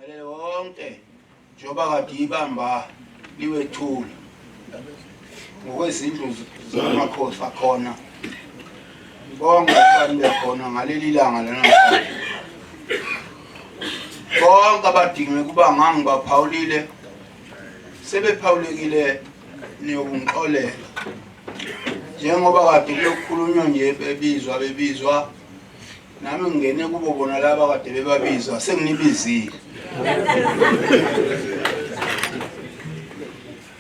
Ngelele wonke njengoba kade ibamba liwethula ngokwezindlu zamakhosi akhona bonke abantu bekhona ngaleli langa lanamhlanje bonke abadinge ukuba ngangibaphawulile sebephawulekile niyokungixolela njengoba kade kulokukhulunywa nje bebizwa bebizwa nami ngingene kubo bona laba kade bebabizwa senginibizile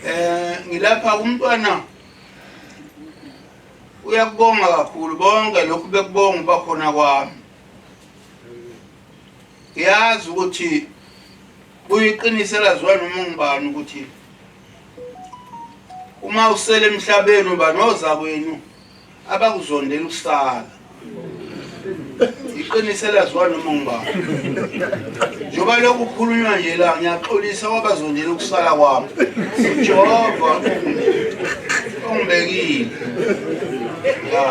eh ngilapha kumntwana uyakubonga kakhulu bonke lokhu bekubonga uba khona kwami ngiyazi ukuthi kuyiqinisela ziwa noma ngibani ukuthi uma usele emhlabeni uba noza kwenu abakuzondela ukusala iqiniso elaziwa noma ngubani njengoba lokhu kukhulunywa nje la ngiyaxolisa kwabazondela ukusala kwami ujehova ongibekile ya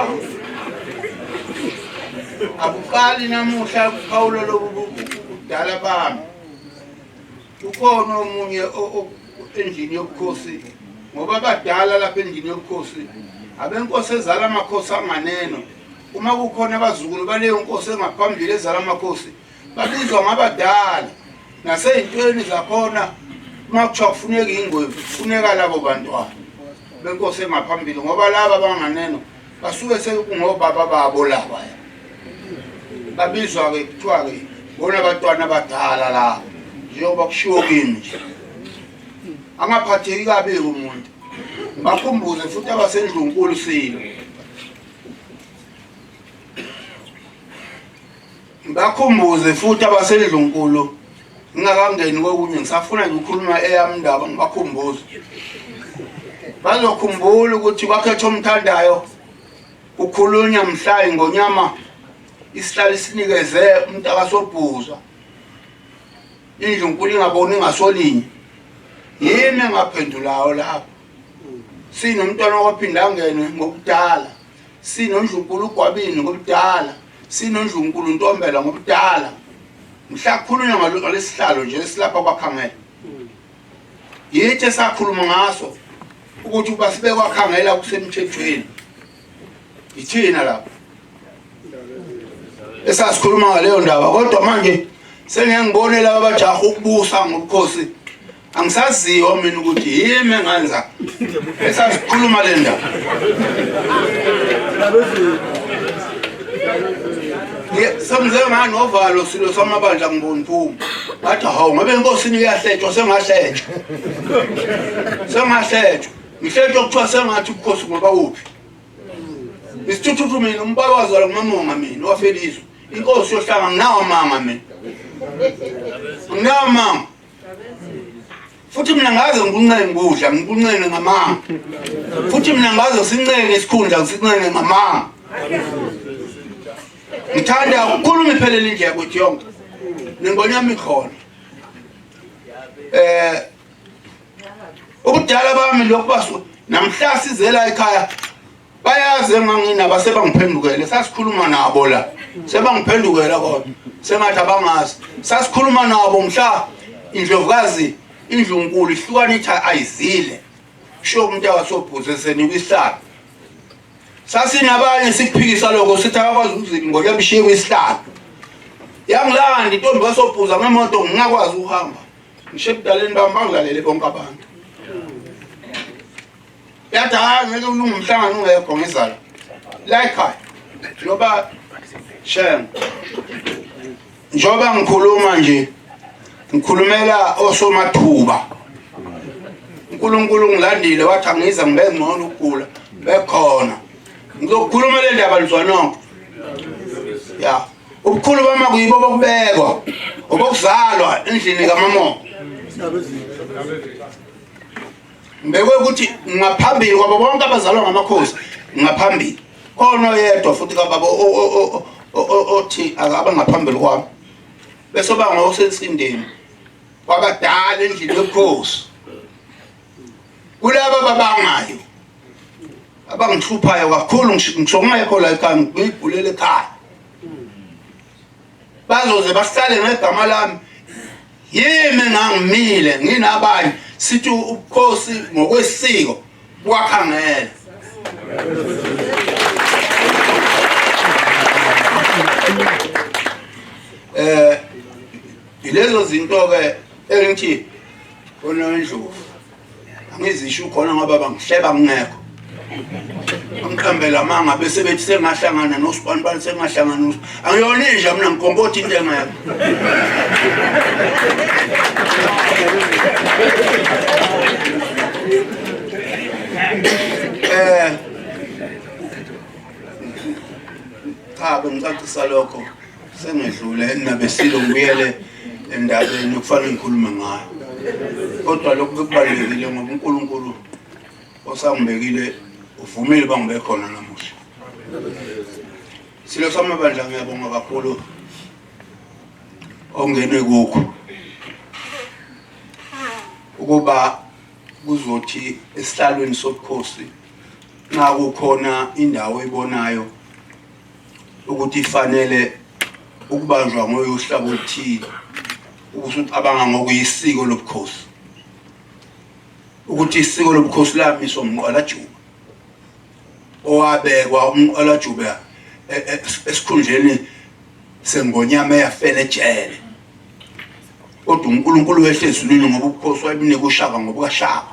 akuqali namuhla kuphawulo lobu budala bami Ukhona omunye endlini yobukhosi ngoba abadala lapha endlini yobukhosi abenkosi ezala amakhosi anganeno uma kukhona abazukulu baleyo nkosi engaphambili ezala amakhosi babizwa ngabadala nasey'ntweni zakhona uma kuthiwa kufuneka iy'ngwevu kufuneka labo bantwana benkosi engaphambili ngoba laba abanganeno basuke sekungobaba babo laba babizwa-ke kuthiwa-ke bona bantwana abadala laba njengoba kushiwo kimi nje angaphatheki kabi-ke umuntu bakhumbuze futhi abasendlunkulu silo Ngibakhumbuze futhi abasendlunkulu ngingakangeni kokunye ngisafuna nje ukukhuluma eyami indaba ngibakhumbuze. Bazokhumbula ukuthi kwakhetha omthandayo ukhulunya mhlayi ngonyama isihlali sinikeze umuntu akasobhuzwa indlu nkulu ingaboni ngasolinye yimi engaphendulayo lapho sinomntwana waphinde angene ngokudala sinondlunkulu ugwabini ngokudala SinoNdlunkulu Ntombela ngobudala mhla kukhulunywa ngalo- ngalesihlalo nje esilapha kwakhangela yithi esakhuluma ngaso ukuthi uba sibe kwakhangela kusemthethweni yithina lapho esasikhuluma ngaleyo ndaba kodwa manje sengiyangibone laba bajaha ukubusa ngobukhosi angisaziyo mina ukuthi yimi engenza esasikhuluma le ndaba semze ngani ovalo silo samabandla ngiboni phuma ngathi hawu ngabe enkosini kuyahletshwa sengahletshwa sengahletshwa ngihletshwa kuthiwa sengathi ubukhosi ngoba uphi isithuthuthu mina umbaba wazalwa ngumamonga mina wafelizwe inkosi yohlanga nginawo amanga mina nginawo amanga futhi mina ngaze ngikuncenga ukudla ngikuncenga ngamanga futhi mina ngaze sincenga isikhundla ngisincenga ngamanga ngithanda ukukhulu ngiphelele indlela yakuthi yonke nengonya yami khona eh ubudala bami lokubaswa namhla sizela ekhaya bayazi enganginaba sebangiphendukele sasikhuluma nabo la sebangiphendukela kodwa sengathi abangazi sasikhuluma nabo mhla indlovukazi indlunkulu ihlukana ithi ayizile sho umuntu awasobhuze senikwihlala sasinabanye sikuphikisa lokho sithi akakwazi ukuzili ngoba yabishiye kwisihlalo yangilanda intombi kasobhuza ngemoto ngingakwazi ukuhamba ngisho ebudaleni bami bangilalele bonke abantu yathi hayi ngeke ulunge umhlangano ungekho ngizayo layikhaya njengoba shem njengoba ngikhuluma nje ngikhulumela osomathuba unkulunkulu ngilandile wathi angiza ngibe ngcono ukugula bekhona ngizokhuluma le ndaba luzwanonke ya ubukhulu bama kuyibo bokubekwa obokuzalwa endlini kamamongo Ngibekwe ukuthi ngaphambili kwabo bonke abazalwa ngamakhosi ngaphambili. Khona oyedwa futhi kababa othi akaba ngaphambili kwami. Bese oba ngosensindeni. Kwabadala endlini yobukhosi. Kulaba babangayo abangihluphayo kakhulu ngisho ngingekho la ekhaya ngigulele ekhaya bazoze bahlale ngegama lami yimi ngangimile nginabanye sithi ubukhosi ngokwesiko kwakha ngeke eh yilezo zinto ke engithi onondlovu angizisho khona ngoba bangihleba ngingekho angiqambela amanga bese bethi sengahlangana nosibanibani sengahlangana nos angiyona inja mina ngikonkothi into engekho eh cha bengicacisa lokho Sengedlule enabesilo ngibuyele endabeni okufanele ngikhulume ngayo. Kodwa lokhu kubalulekile ngoba uNkulunkulu osangibekile uvumile uba ngibe khona namuhla. Silo samabandla ngiyabonga kakhulu ongene kukho ukuba kuzothi esihlalweni sobukhosi nxa kukhona indawo ebonayo ukuthi ifanele ukubanjwa ngoyo uhlabo oluthile ukuthi ucabanga ngokuyisiko lobukhosi ukuthi isiko lobukhosi lamiswa umqalajuba owabekwa umqalajuba e, e, esikhundleni sengonyama eyafela ejele kodwa uNkulunkulu wehle ezulwini ngoba ubukhosi wayebunika ushaka ngobukaShaka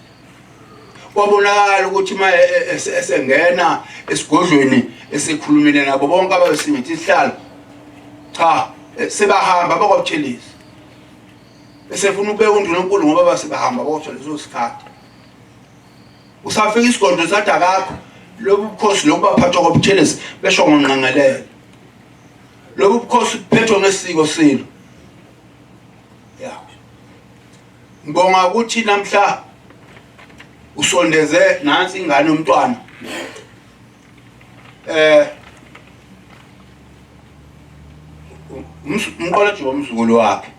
kwabonakala ukuthi uma e, e, e, esengena esigodlweni esekhulumile nabo bonke ababesingithi isihlalo cha sebahamba bakwabuthelisi esefuna ukubeka undunankulu ngoba basebahamba kodwa leso sikhathi usafika isigodlo sathi akakho lobu bukhosi lobu baphathwa kwabuthelisi besho ngonqangelele lobu bukhosi buphethwa ngesiko silo Ngibonga ukuthi namhla usondeze nansi ingane umntwana eh umqolethi womzukulu wakhe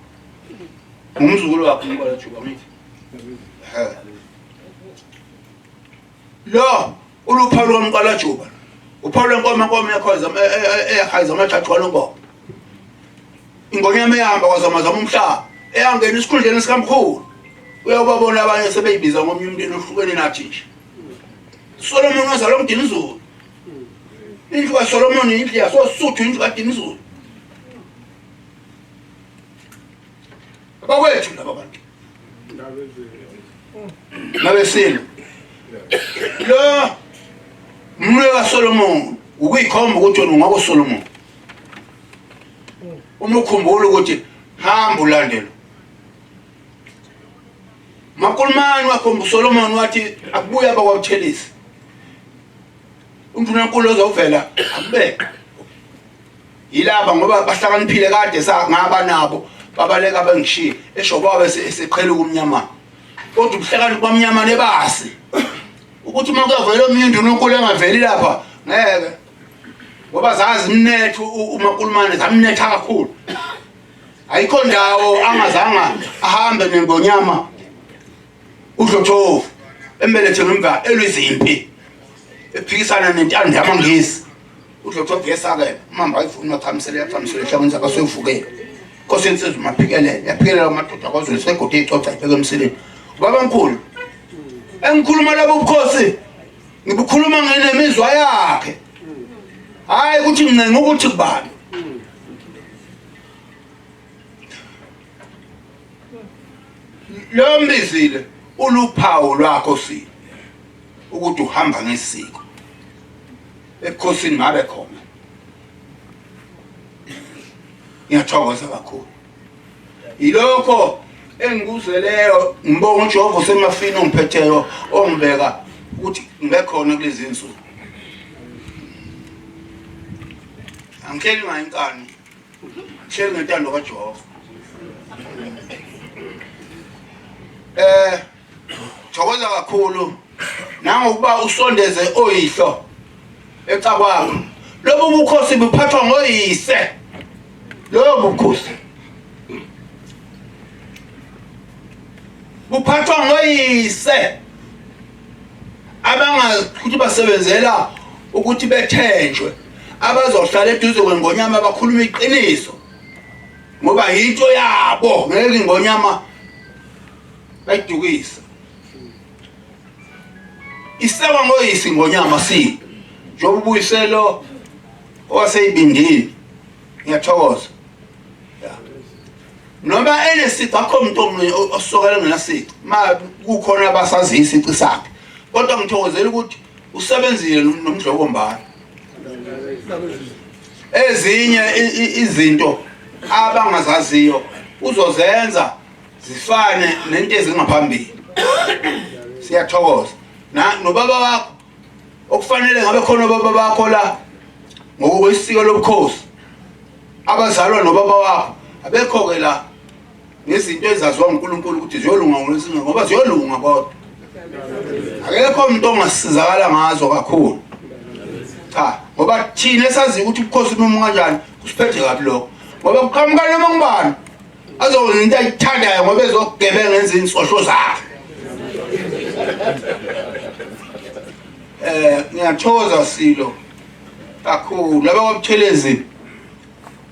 umzukulu wakhe umqolethi wamithi Lo uluphawu lukamqalajuba. Uphawu lwenkomo inkomo yakhoza eyahayiza amajaji waluboko. Ingonyama ehamba kwazamazama umhlaba eyangena isikhundleni sikamkhulu. Uyawubabona abanye sebeyibiza ngomunye umndeni ohlukene nathi nje. Solomon wazalwa umdinizulu. Indlu kaSolomon indlu yasosuthu indlu kadinizulu. Bakwethu laba bantu. ngabesini lo mlwe kaSolomon ukuyikhomba ukuthi wena ungaba uSolomon uma ukhumbula ukuthi hamba ulandelo makulumani wakhomba uSolomon wathi akubuye abakwabuthelisi uNdunankulu ozovela akubeka yilaba ngoba bahlakaniphile kade ngaba nabo babaleka bengishiye esho kwaba eseqhela ukumnyama kodwa ubuhlakani kwamnyama nebasi ukuthi uma kuyavela omunye undununkulu engaveli lapha ngeke ngoba zazimnetha umakulumane zamnetha kakhulu ayikho ndawo angazanga ahambe nengonyama udlothovu embelethe ngemva elwizimpi ephikisana nentando yamangisi udlothovu yesakela umamba ayifuni mathamisele yathamisele ehlakweni sakhe asuyivukele nkosi yensizwa umaphikelele yaphikelela amadoda kwazulu segodi icoca ibheke emsileni babamkhulu engikhuluma labo bukhosi ngibukhuluma ngenemizwa yakhe hayi ukuthi ngincenga ukuthi kubani lo mbizile uluphawu lwakho sile ukuthi uhamba ngesiko ebukhosini ngabe khona ngiyathokoza kakhulu yilokho engikuzeleyo ngibonga ujehova usemafini ongiphetheyo ongibeka ukuthi ngibekhona kulezi nsuku angihleli ngayo inkani Share ngentando kaJehova. Eh thokoza kakhulu nangokuba usondeze oyihlo ecakwakho. Lobu bukhosi buphathwa ngoyise. Lobo bukhosi buphathwa ngoyise abangazi ukuthi basebenzela ukuthi bethenjwe abazohlala eduze kwengonyama bakhuluma iqiniso ngoba yinto yabo ngeke ingonyama bayidukisa isewa ngoyisi ingonyama si njengoba ubuyiselo owaseyibindile ngiyathokoza noma enesici akho muntu omunye osokela ngenasici ma kukhona abasaziyo isici sakhe kodwa ngithokozela ukuthi usebenzile nomdlokombane ezinye izinto abangazaziyo uzozenza zifane nento ezingaphambili siyathokoza nobaba wakho okufanele ngabe khona obaba bakho la ngokwesiko lobukhosi abazalwa nobaba wakho abekho-ke la ngezinto ezaziwa uNkulunkulu ukuthi ziyolunga ngolwesinga ngoba ziyolunga kodwa akekho umuntu ongasizakala ngazo kakhulu cha ngoba thina esaziyo ukuthi ubukhosi noma kanjani kusiphethe kabi lokho ngoba kuqhamuka noma ngubani azokwenza into ayithandayo ngoba ezokugebenga enza izinsosho zakhe um ngiyathokoza silo kakhulu laba kwabuthelezini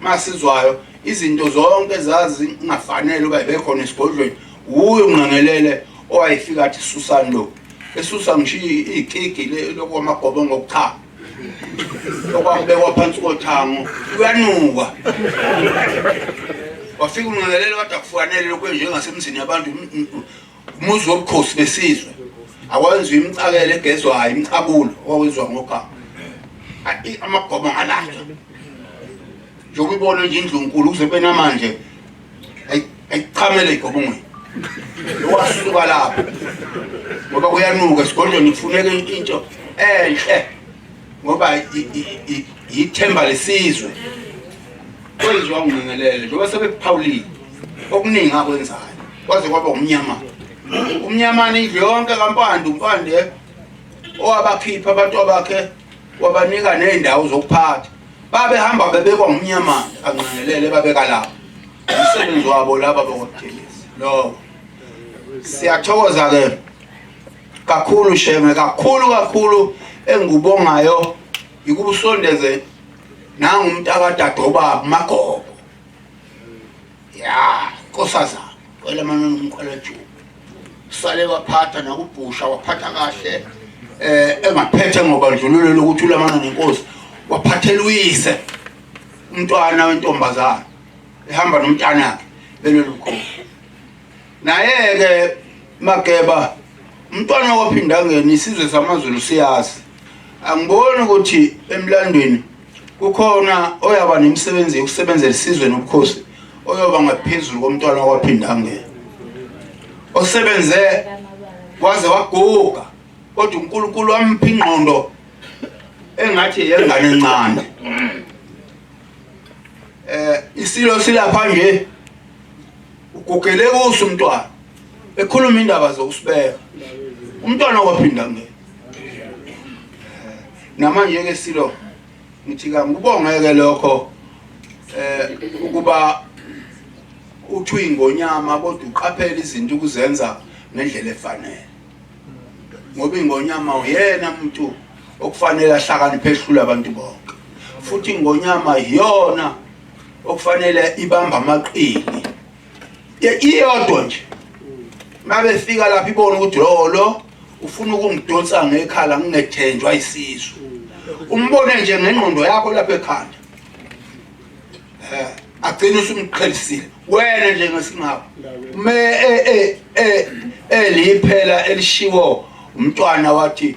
Masizwayo izinto zonke zazingafanele uba bekhona esigodlweni wuye unqangelele owayefika athi susani lo esusa ngisho ikigi lokwamagobo ngokuchama okwakubekwa phansi kothango uyanuka wafika unqangelele wade akufanele lokhu enjengasemzini yabantu umuzi wobukhosi besizwe awenziwa imicakelo egezwayo imicabulo owawenziwa ngogama amagoma ngalatha njengoba ibona nje indlunkulu kuze kube namanje ayichamele igobongweni owasuka lapho ngoba kuyanuka esigodlweni kufuneka into enhle ngoba yithemba lesizwe kwenziwa ngingelele njengoba sebekuphawulile okuningi akwenzayo kwaze kwaba umnyamana umnyamana indlu yonke kampande umpande owabakhipha abantu abakhe wabanika ney'ndawo zokuphatha babehamba bebekwa ngumnyamana kanqangelele babeka lapho umsebenzi wabo laba bokuthelisa loko siyathokoza-ke kakhulu sheme kakhulu kakhulu engikubongayo yikuba usondeze nangumntakadadobaba umagogo ya nkosazana wena mama ngumqalajuku sale waphatha nakubhusha waphatha kahle eh engaphethe ngobandlululo lokuthi ulamana nenkosi waphathela uyise umntwana wentombazana ehamba nomntana wakhe belelukhosi naye ke mageba umntwana waphindangeni isizwe samaZulu siyazi angiboni ukuthi emlandweni kukhona oyaba nemisebenzi yokusebenzela isizwe nobukhosi oyoba ngaphezulu komntwana wakwaphindangela osebenze waze waguga kodwa uNkulunkulu wamphi ingqondo engathi yengane encane eh isilo silapha nje ugugele kuso umntwana ekhuluma indaba zokusibeka umntwana waphindangela namanje ke silo ngithi kangikubongeke lokho eh ukuba uthwi ingonyama kodwa uqaphela izinto ukuzenza ngendlela efanele ngoba ingonyama uyena umuntu okufanele ahlakaniphe ehlula abantu bonke futhi ingonyama iyona okufanele ibamba amaqili iyodwa nje mabefika lapha ibona ukuthi lowo lo ufuna ukungidonsa ngekhala ngingethenjwa isisu umbone nje ngengqondo yakho lapha ekhanda eh agcina usumqhelisile wena nje ngesingabo me eh eh eh eliphela elishiwo umntwana wathi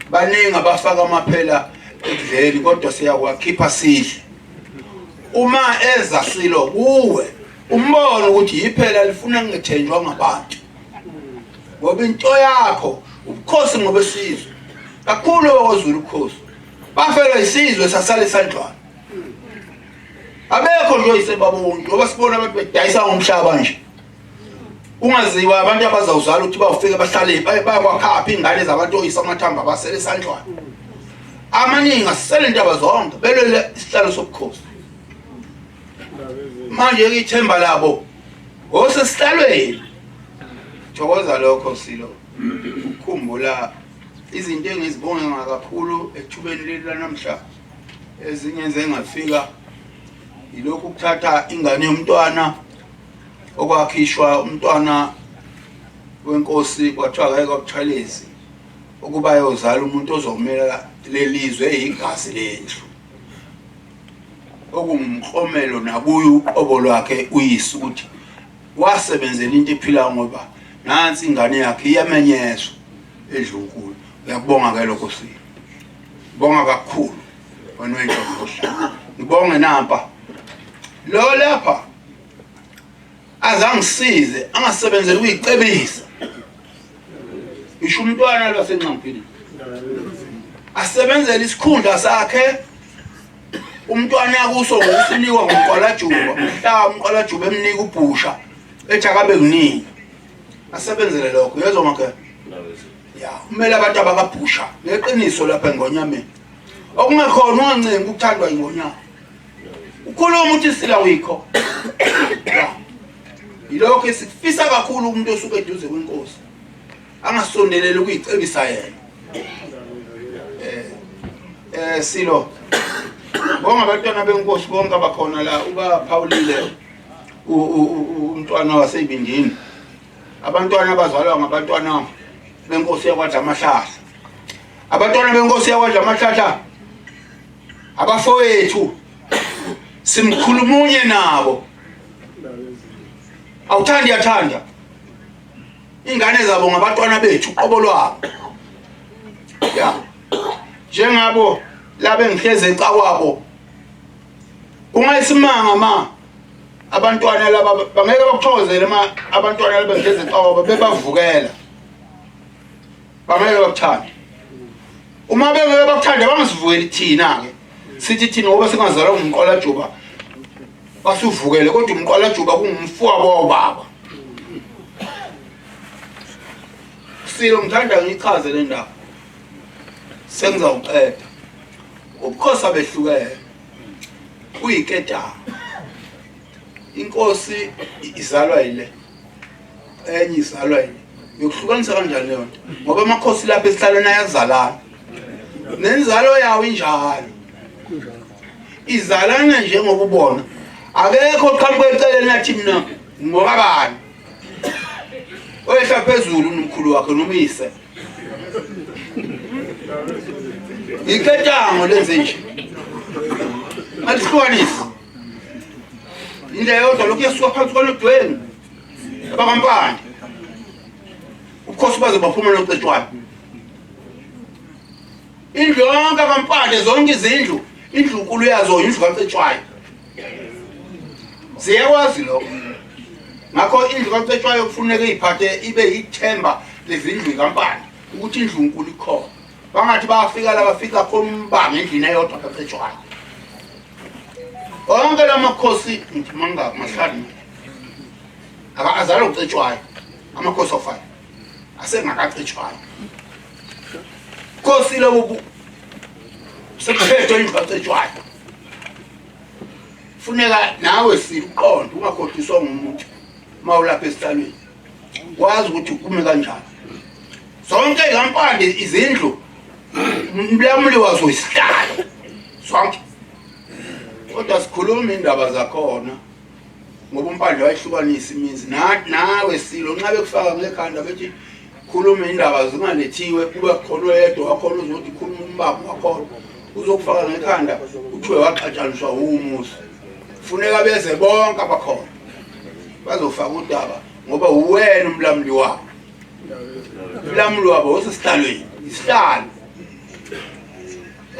baningi abafaka amaphela ekudleni kodwa siyawakhipha sidle uma eza silo kuwe umbone ukuthi yiphela lifuna ngethenjwa ngabantu ngoba into yakho ubukhosi ngobesizwe kakhulu okwazulu ukhosi bafelwa isizwe sasale sandlwana abekho nje oyisebaba wonke ngoba sibona abantu bedayisa ngomhlaba nje kungaziwa abantu abazawuzala ukuthi bawufike bahlale bayakwakhapha iy'ngane zabantu oyisa amathamba abasele esandlwana amaningi asisele ntaba zonke belwele isihlalo sobukhosi manje-ke ithemba labo osesihlalweni thokoza lokho silo ukukhumbula izinto engizibonga kakhulu ethubeni leli lanamhla ezinye zengafika yilokhu ukuthatha ingane yomntwana okwakhishwa umntwana wenkosi kwathiwa ngeke kwabuchalezi ukuba yozala umuntu ozomela lelizwe eyigazi lendlu okungumklomelo nakuyo uqobo lwakhe uyise ukuthi wasebenzela into ephilayo ngoba nansi ingane yakhe iyamenyezwa edlunkulu uyakubonga ke lokho sini bonga kakhulu wena wendoda ngibonge nampa lo lapha azangisize angasebenzeli ukuyicebisa ngisho umntwana lwasenxamphini asebenzele isikhundla sakhe umntwana yakuso ngokusinikwa ngumqwalajuba mhla umqwalajuba emnika ubhusha ethi akabe kuningi asebenzele lokho yezwa makhe ya kumele abantu abakabhusha ngeqiniso lapha engonyameni okungekhona ungancengi ukuthandwa ingonyama ukhuluma uthi sila wikho yilokho esikufisa kakhulu umuntu osuke eduze kwenkosi angasondeleli ukuyicebisa yena eh eh silo bonga abantwana benkosi bonke abakhona la ubaphawulile umntwana waseyibindini abantwana abazalwa ngabantwana benkosi yakwadla amahlahla abantwana benkosi yakwadla amahlahla abafowethu simkhulumunye nabo awuthandi yathanda ingane zabo ngabatwana bethu qobo lwabo ya njengabo labe ngihleze ecakwabo ungayisimanga ma abantwana laba bangeke bakuthokozele ma abantwana laba ngihleze ecakwabo bebavukela bangeke bakuthande uma bengeke bakuthande bangasivukeli thina-ke sithi thina ngoba singazalwa ngumqwalajuba basivukele kodwa umqwalajuba kungumfowabo wawubaba silo ngithanda ngichaze le ndaba sengizawuqeda ubukhosi abehlukene uyiketanga inkosi izalwa yile enye izalwa yini yokuhlukanisa kanjani leyo nto ngoba amakhosi lapha esihlalweni ayazalana nenzalo yawo injalo izalana njengoba ubona akekho oqhamuka eceleni athi mina ngoba bani oyehla phezulu nomkhulu wakhe nomyise yiketango lenze nje alihlukanisi indlela yodwa lokhu yasuka phansi kwalodweni abakampande ubukhosi baze baphuma nocetshwayo indlu yonke kampande zonke izindlu indlu nkulu yazo indlu kacetshwayo siyakwazi lokho ngakho indlu kacetshwayo kufuneka iyiphathe ibe yithemba lezindlu kampande ukuthi indlu nkulu ikhona bangathi bafika la bafika khona umbango endlini eyodwa kacetshwayo onke la makhosi ngithi manga mahlanu aka azala ucetshwayo amakhosi ofayo asengakacetshwayo khosi lobu sekuphethe ingacetshwayo funeka nawe siqonde ungakhohliswa ngumuntu mawulapha esihlalweni wazi ukuthi uphume kanjani zonke lampande izindlu umlamuli wazo isihlalo sonke kodwa sikhuluma indaba zakhona ngoba umpande wayihlukanisa imizi nawe silo nxa bekufaka ngekhanda bethi khuluma indaba zingalethiwe kube khona oyedwa wakhona uzothi khuluma umbaba wakhona uzokufaka ngekhanda kuthiwe waxatshaniswa wumusa funeka beze bonke abakhona bazofaka udaba ngoba uwena umlamuli wabo umlamuli wabo osesihlalweni isihlalo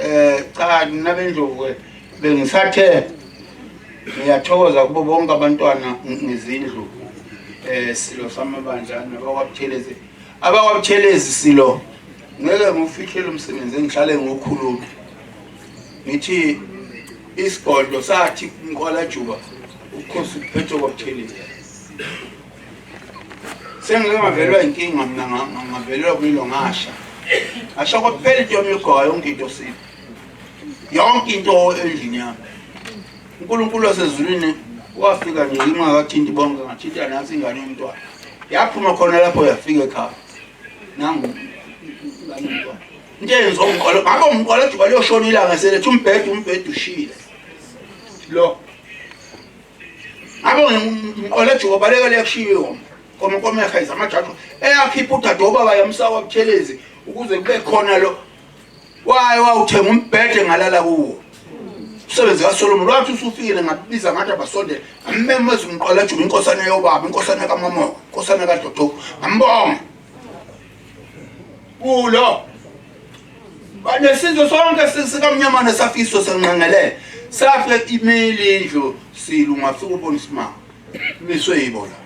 eh cha nina bendlovu bengisathe ngiyathokoza kubo bonke abantwana ngezindlu eh silo samabandla nabakwabuthelezi abakwabuthelezi silo ngeke ngiwufihlele umsebenzi engihlale ngokhuluma ngithi isigodlo sathi inkwalajuba ukhosi uphethe kwabuthelile sengike ngavelwa inkinga mina ngavelelwa kuyilo ngasha ngasho kwaphela into yami yogowa yonke into sile yonke into endlini yami unkulunkulu wasezulwini wafika nje ingakathinti bonke ngathinta nansi ingane yomntwana yaphuma khona lapho yafika ekhaya nangu into eyenziwa umqolo ngakho umqolo ojuba liyoshona ilanga seletha umbhede umbhede ushile lo ngakho umqolo ojuba baleka lekushiyo komekomeha izamajajo eyakhipha udade obaba yamsaka obuthelezi ukuze kube khona lo waye wawuthenga umbhede ngalala kuwo umsebenzi kaSolomon wathi usufikile ngabiza ngathi abasondele ngammemeza umqala juba inkosana yobaba inkosana kaMamoka inkosana kaDodo ngambonga kulo banesizwe sonke sikamnyamana safiso senqangelele safe imile indlu silu ngafika ubona isimanga Miswe yibo la.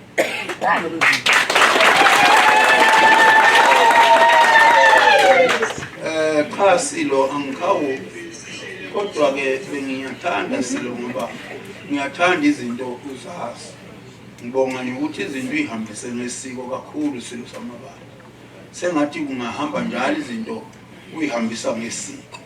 Eh cha silo angikhawu kodwa ke bengiyathanda silo ngoba ngiyathanda izinto uzazi. Ngibonga nje ukuthi izinto ihambise nesiko kakhulu silo samabala. Sengathi kungahamba njalo izinto uyihambisa ngesiko.